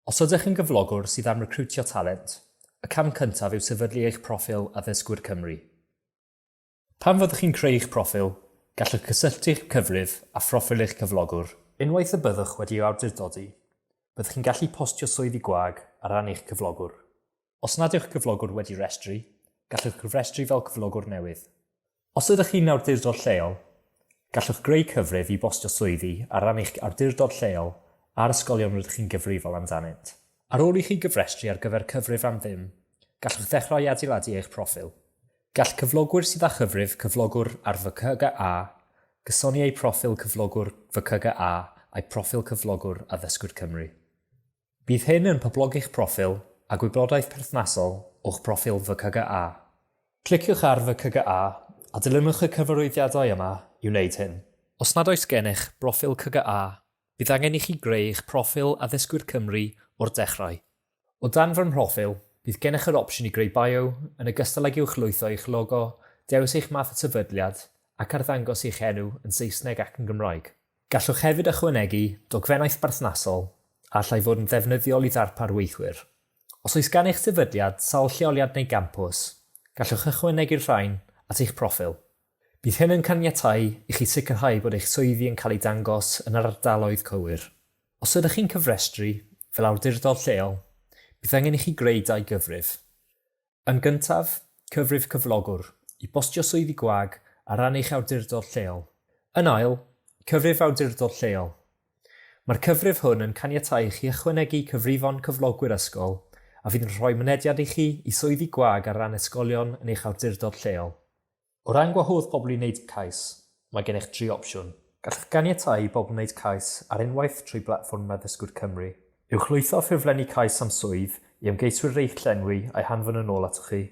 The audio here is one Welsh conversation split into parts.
Os ydych yn gyflogwr sydd am recriwtio talent, y cam cyntaf yw sefydlu eich proffil Addysgwyr Cymru. Pan fyddwch chi'n creu eich proffil, gallwch gysylltu'ch cyfrif â phroffil eich cyflogwr. Unwaith y byddwch wedi ei awdurdodi, byddwch chi'n gallu postio swyddi gwag ar ran eich cyflogwr. Os nad yw'ch cyflogwr wedi rhestru, gallwch cofrestru fel cyflogwr newydd. Os ydych chi'n awdurdod lleol, gallwch greu cyfrif i bostio swyddi ar ran eich awdurdod lleol a'r ysgolion rydych chi'n gyfrifol amdanynt. Ar ôl i chi gyfrestru ar gyfer cyfrif am ddim, gallwch ddechrau adeiladu eich proffil. Gall cyflogwyr sydd â chyfrif cyflogwr ar FCGA gysoni eu proffil cyflogwr FCGA a'u proffil cyflogwr â Ddysgwyr Cymru. Bydd hyn yn poblogi'ch proffil a gwyblodaeth perthnasol o'ch proffil VCGA. Cliciwch ar VCGA a dilynwch y cyfarwyddiadau yma i wneud hyn. Os nad oes gennych broffil CGA, bydd angen i chi greu eich proffil Addysgwyr Cymru o'r dechrau. O dan fy mhroffil, bydd gennych yr opsiwn i greu bio, yn ogystal ag uwchlwytho eich logo, dewis eich math y sefydliad, ac arddangos eich enw yn Saesneg ac yn Gymraeg. Gallwch hefyd ychwanegu dogfennaeth berthnasol a allai fod yn ddefnyddiol i ddarpar weithwyr. Os oes gan eich sefydliad sawl lleoliad neu gampws, gallwch ychwanegu'r rhain at eich proffil. Bydd hyn yn caniatáu i chi sicrhau bod eich swyddi yn cael eu dangos yn yr ardaloedd cywir. Os ydych chi'n cyfrestru fel awdurdod lleol, bydd angen i chi greu dau gyfrif. Yn gyntaf, cyfrif cyflogwr i bostio swyddi gwag ar ran eich awdurdod lleol. Yn ail, cyfrif awdurdod lleol. Mae'r cyfrif hwn yn caniatáu i chi ychwanegu cyfrifon cyflogwyr ysgol a fydd yn rhoi mynediad i chi i swyddi gwag ar ran ysgolion yn eich awdurdod lleol. O ran gwahodd pobl i wneud cais, mae gennych dri opsiwn. Gallwch ganiatáu i bobl wneud cais ar unwaith trwy blatfform Addysgwyr Cymru. Uwch lwytho ffurflenni cais am swydd i ymgeiswyr rei'ch llenwi a'i hanfon yn ôl atoch chi,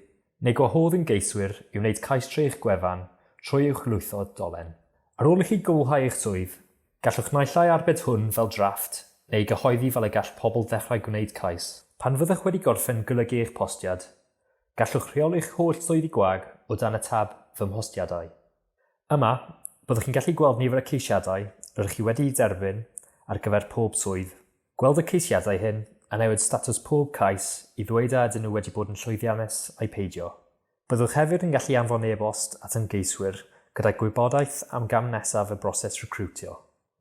neu gwahodd ymgeiswyr i wneud cais trwy eich gwefan trwy uwch lwytho dolen. Ar ôl i chi gwblhau eich swydd, gallwch naill ai arbed hwn fel drafft neu ei gyhoeddi fel y gall pobl ddechrau gwneud cais. Pan fyddwch wedi gorffen golygu eich postiad, Gallwch rheoli'ch holl swyddi gwag o dan y tab Fy Mhostiadau. Yma, byddwch chi'n gallu gweld nifer y ceisiadau rydych chi wedi'u derbyn ar gyfer pob swydd, gweld y ceisiadau hyn a newid statws pob cais i ddweud a ydyn nhw wedi bod yn llwyddiannus ai peidio. Byddwch hefyd yn gallu anfon e-bost at ymgeiswyr gyda gwybodaeth am gam nesaf y broses recriwtio.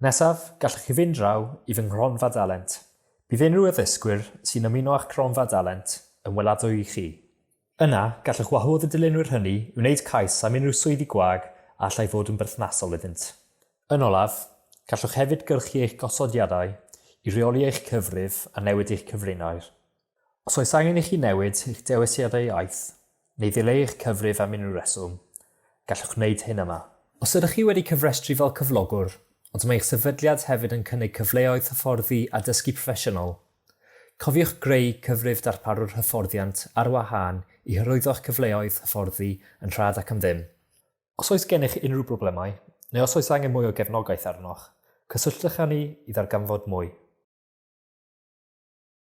Nesaf, gallwch chi fynd draw i fy nghronfa dalent. Bydd unrhyw addysgwyr sy'n ymuno â'ch cronfa dalent yn weladwy i chi. Yna, gallwch wahodd y dylunwyr hynny i wneud cais am unrhyw swyddi gwag a allai fod yn berthnasol iddynt. Yn olaf, gallwch hefyd gyrchu eich gosodiadau i reoli eich cyfrif a newid eich cyfrinair. Os oes angen i chi newid eich dewisiadau iaith, neu ddileu eich cyfrif am unrhyw reswm, gallwch wneud hyn yma. Os ydych chi wedi cyfrestru fel cyflogwr, ond mae eich sefydliad hefyd yn cynnig cyfleoedd hyfforddi a dysgu proffesiynol, cofiwch greu cyfrif darparwr hyfforddiant ar wahân i hyrwyddo'ch cyfleoedd hyfforddi yn rhad ac am ddim. Os oes gennych unrhyw broblemau, neu os oes angen mwy o gefnogaeth arnoch, cysylltwch â ni i ddarganfod mwy.